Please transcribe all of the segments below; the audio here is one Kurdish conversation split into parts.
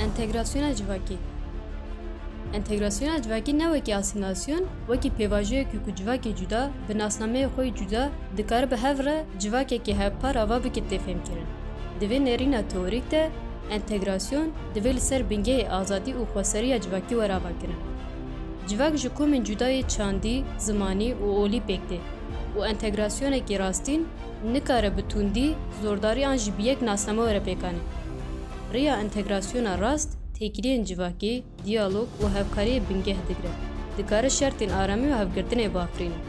Entegrasyona civakî Entegrasyona civakî ne wekî asîmîlasyon, wekî pêvajoyekî ku civakê cuda bi nasnameyê xwe yê cuda dikare bi hev re civakekî hevpar ava bike tê fêmkirin. Di vê nêrîna teorîk de entegrasyon divê li ser bingehê azadî û xweseriya civakî were avakirin. Civak ji komên cuda yê çandî, zimanî û olî pêk tê û entegrasyonekî rastîn nikare bi tundî, zordarî an jî bi yek nasname were pêkanîn. Rêya întegrasyona rast, têkiliyên civakî, diyalog û hevkariyê bingeh digire, dikare şertên aramî û hevgirtinê bafirîne.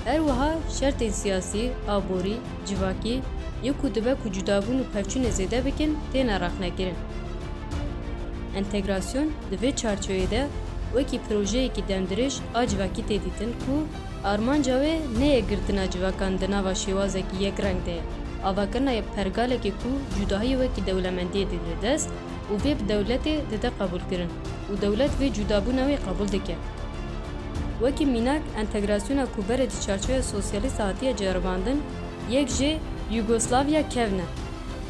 Her wiha şertên siyasî, aborî, civakî yên ku dibe ku cudabûn û pevçûnê zêde bikin têne rexnekirin. Întegrasyon di vê çarçoyê de wekî projeyekî demdirêj a civakî tê dîtin ku, Armanca wê ne yê girtina civakan di nava şêwazekî yekreng de ye, avakirina yê pergalekê ku cudahiyê wekî dewlemendiyê dide dest û vê bi dewletê dide qebûlkirin û dewlet vê cudabûna wê qebûl dike. Wekî mînak entegrasyona ku berê di çarçoya sosyalîst de hatiye ceribandin yek jê, Yugoslavya kevne.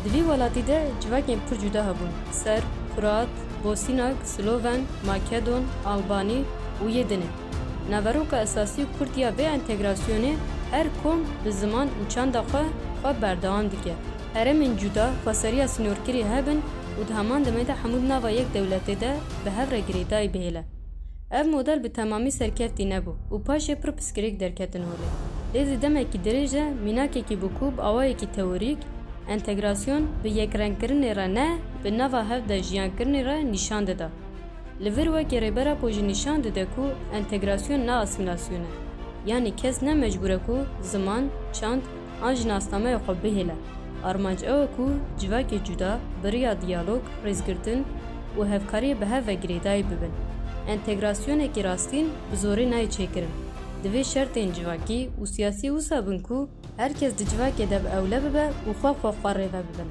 Di vî welatî de civakên pir cuda hebûn, Serb, Kroat, Bosînak, Sloven, Makedon, Albanî û yê din e. Naveroka esasî û kurt ya vê entegrasyonê her kom bi ziman û çanda xwe xwe berdewam dike. Herêmên cuda xweseriya sînorkirî hebin û di heman demê de hemû di nava yek dewletê de bi hev re girêdayî bihêle. Ev model bi temamî serkeftî nebû û paşê pir piskirêk derketin holê. Lê di demekî dirêj de mînakekî bû ku bi awayekî teorîk entegrasyon bi yekrengkirinê re ne, bi nava hev de jiyankirinê re nîşan dida. Li vir wekî Rêber Apo jî nîşan dide ku entegrasyon ne asîmlasyon e. Yanî kes ne mecbûr e ku ziman, çand an jî nasnameya xwe bihêle. Armanc ew e ku civakê cuda bi riya diyalog, rêzgirtin û hevkariyê bi hev ve girêdayî bibin. Entegrasyonekî rastîn bi zorê nayê çêkirin. Divê şertên civakî û siyasî wisa bin ku her kes di civakê de bi ewle bibe û xwe xwe xwe rêve bibin.